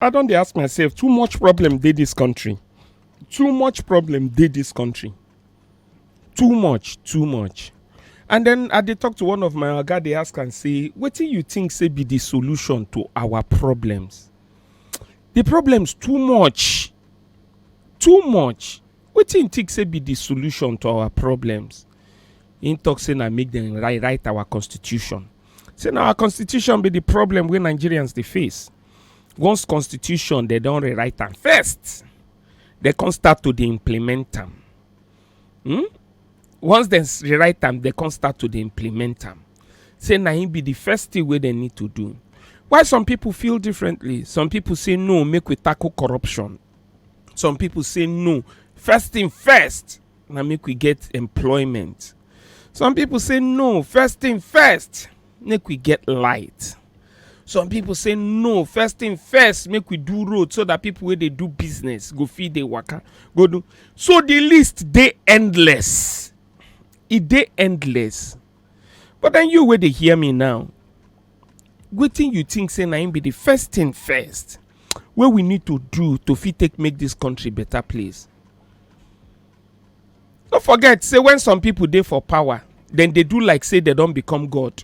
I don dey ask myself too much problem dey this country too much problem dey this country too much too much and then I dey talk to one of my oga dey ask am say wetin you think say be the solution to our problems the problems too much too much wetin you think say be the solution to our problems him talk say na make dem rewrite our constitution say na our constitution be the problem wey Nigerians dey face. once constitution dem don rewrite am first dem come start to dey implement am hmm? once dem s- rewrite am dem come start to dey implement am say na him be the first thing wey dem need to do why some people feel differently some people say no make we tackle corruption some people say no first thing first na make we get employment some people say no first thing first make we get light some people say no first thing first make we do road so that people wey dey do business go fit dey waka go do so the list dey endless e dey endless but then you wey dey hear me now wetin you think say na im be the first thing first wey we need to do to fit take make this country better place no forget say when some people dey for power dem dey do like say dem don become god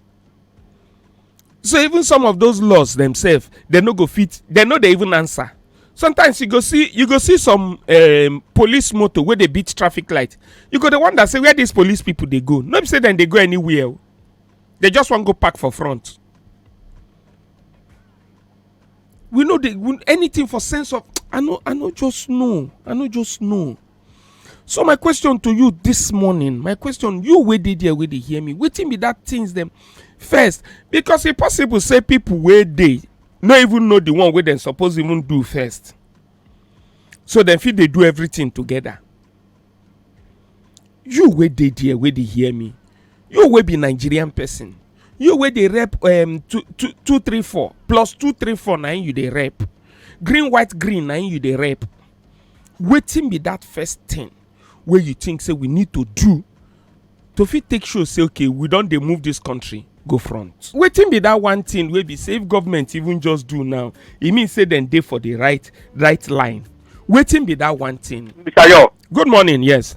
so even some of those laws themselves dem no go fit dem no dey even answer sometimes you go see you go see some um, police motor wey dey beat traffic light you go dey wonder say where these police people dey go no be say dem dey go anywhere o they just wan go park for front we no dey we- anything for sense of i no i no just know i no just know so my question to you this morning my question you wey dey there wey dey hear me wetin be that things dem first because e possible say people wey dey no even know the one wey dem suppose even do first so dem fit dey do everything together you wey dey there wey dey hear me you wey be nigerian person you wey dey rep um, two, two, two, three, four plus two, three, four na im you dey rep green white green na im you dey rep wetin be that first thing wey you think say we need to do to fit take show say okay we don dey move this country go front wetin be that one thing wey be say if government even just do now e mean say dem dey for the right right line wetin be that one thing Mr. Yo, good morning yes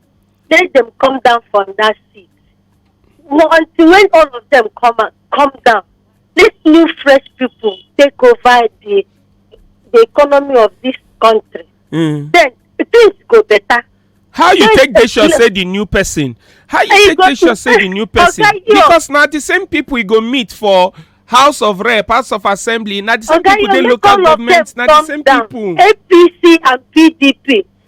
say dem come down from that seat well, until when all of them come out come down this new fresh people take over the the economy of this country mm. then things go better. how you take dey sure say the new person how you take dey sure say the new person because na the same people you go meet for house of rep house of assembly na the same people dey local government na the same people. apc and pdp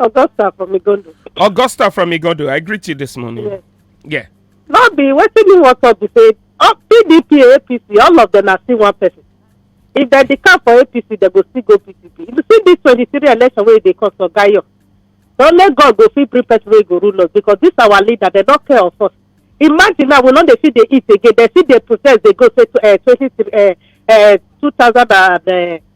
Augusta from Igondo. Augusta from Igondo, I greet you this morning. Yes. Yeah. No be wetin me wan talk be say oh, PDP and APC all of them are still one person. If dem dey come for APC dem go still go PDP. You see this twenty-three election wey dey come for Gayo. Na only God go fit bring person wey go rule us because this our leader dem no care of us. Imagine now we no dey fit dey eat again dem still dey protest dey go say eh, twenty-three eh, eh, two thousand and eh,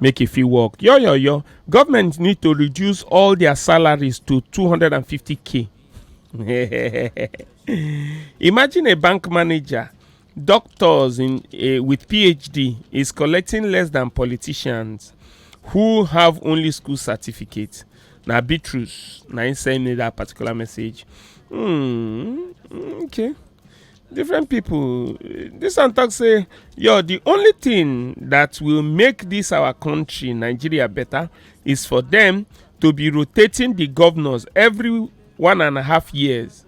make e fit work yoyoyo government need to reduce all their salaries to 250k imagine a bank manager doctors in uh, with phd is collecting less than politicians who have only school certificate na be truth na im send me that particular message hmm okay different people this one talk say yo the only thing that will make this our country nigeria better is for them to be rotating the governors every one and a half years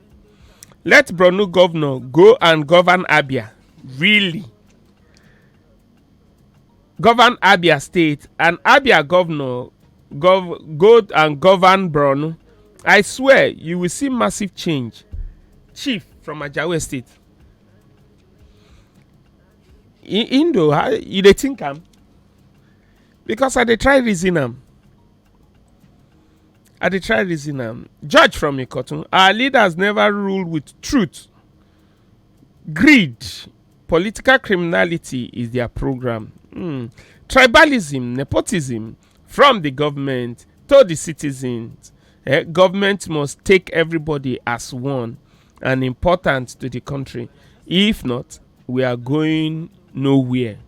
let borno governor go and govern abia really govern abia state and abia governor gov go and govern borno i swear you will see massive change chief from ajawe state I- indo how you dey think am because i dey try reason am i dey try reason am judge from ikotun our leaders never rule with truth greed political criminality is dia programme um tribalism nepotism from di goment to di citizens um goment must take everybody as one and important to di kontri if not we are going nowhere.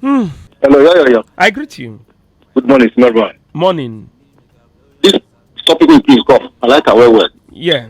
Hmm. Hello, yeah, yeah, yeah. I greet you. Good morning, Smell Morning. This topic will please come. I like it well, well. Yeah.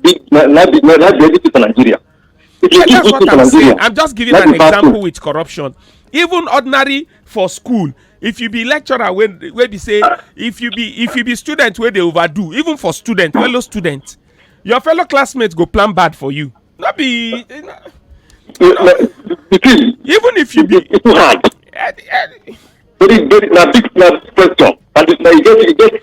big na na be na na be everything for nigeria if you give good thing for nigeria i'm just giving an example with corruption even ordinary for school if you be lecturer wey wey be say if you be if you be student wey dey overdo even for student fellow student your fellow classmates go plan bad for you no be even if you be very very na big na question and na e get e get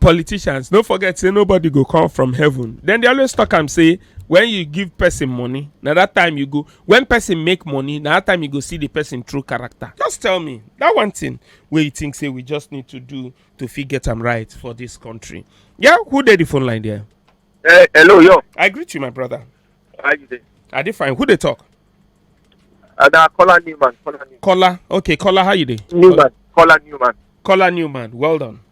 politicians no forget say nobody go come from heaven then they always talk am say when you give person money na that time you go when person make money na that time you go see the person true character just tell me that one thing wey you think say we just need to do to fit get am right for this country yeah who dey the phone line there Hey, hello, yo. i greet you my brother How you doing? i dey fine who dey talk Uh, nah, Kola Newman. Kola Newman. kola okay kola how you dey Newman. Kola Newman. kola newman well done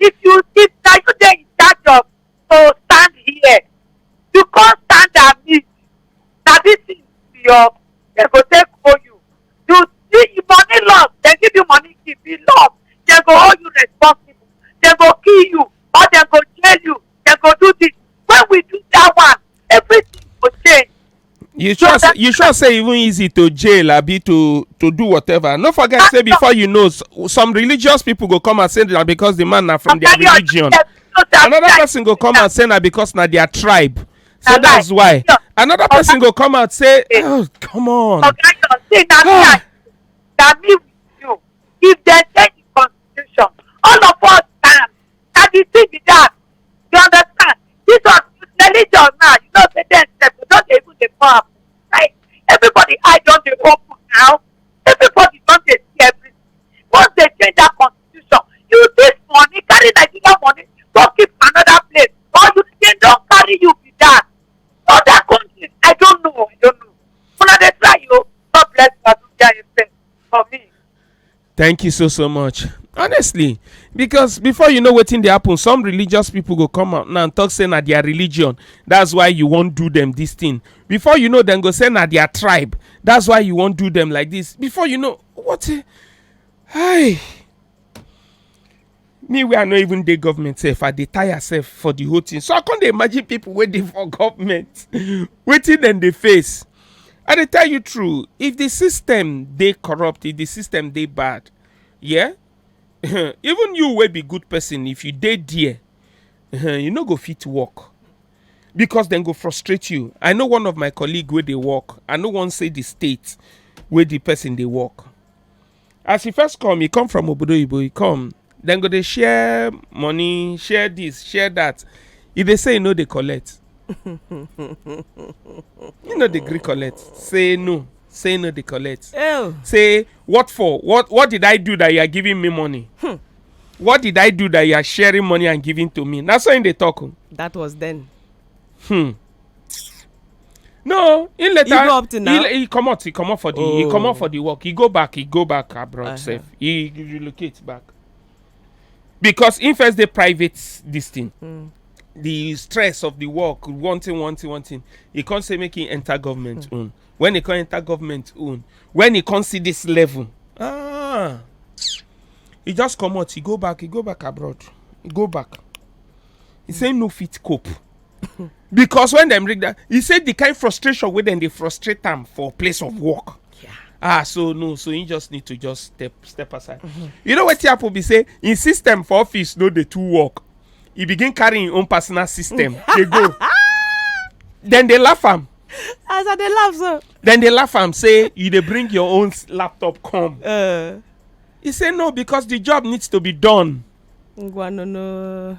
If you if na you dey in charge of to stand here, you come stand amid na this thing be your dem go take owe you. You see if money loss, dem give you money keep e loss, dem go hold you responsible, dem go kill you or dem go jail you, dem go do this. When we do that one, everything go change. you sure so you sure say even easy to jail abi to to do whatever no forget say before you know some religious people go come and say that because the man na from their religion another person go come and say na because na their tribe so that's why another person go come and say oh come on na ah. me with you if dem change the constitution all of us stand na the thing be that You understand? Jesus use religion now. You know, say them sef go just dey even dey pour am. Like everybody eye don dey open now. Everybody don dey see everything. Once they change that constitution, you this money carry Nigeria money go keep another place or you dem don carry you be that. Other countries, I don't know, I don't know. Una dey try o. God bless Abuja FM for me. thank you so so much honestly because before you know wetin dey happen some religious people go come out now and talk say na their religion that's why you wan do them this thing before you know dem go say na their tribe that's why you wan do them like this before you know what a- hi me wey i no even dey government sef i dey tire sef for the whole thing so i come dey imagine people wey dey for government wetin dem dey face i dey tell you true if the system dey corrupt if the system dey bad yeah even you wey be good person if you dey there eh, you no go fit work because dem go frustrate you i know one of my colleague wey dey work i no wan say the state wey the person dey work as e first come e come from obodo oyibo e come dem go dey share money share this share that e dey say e no dey collect e no dey gree collect say no say no dey collect oh say what for what what did i do that you are giving me money hmm. what did i do that you are sharing money and giving to me na so im dey talk o. Oh. that was then. Hmm. no he later he go up to now? he, he comot he comot for the oh. he comot for the work he go back he go back abroad uh -huh. sef he relocate back because he first dey private this thing mm. the stress of the work one thing one thing one thing he come say make he enter government mm. own when he come enter government own when he come see this level ah he just comot he go back he go back abroad he go back he mm. say no fit cope. because when dem read that he say the kind frustration wey dem dey frustrate am for place of work yeah. ah so no so he just need to just step step aside mm -hmm. you know wetin happen be say him system for office no dey too work he begin carry him own personal system dey go then dey laugh am as i dey laugh so then dey laugh am say you dey bring your own laptop come uh. he say no because the job needs to be done ngwa no no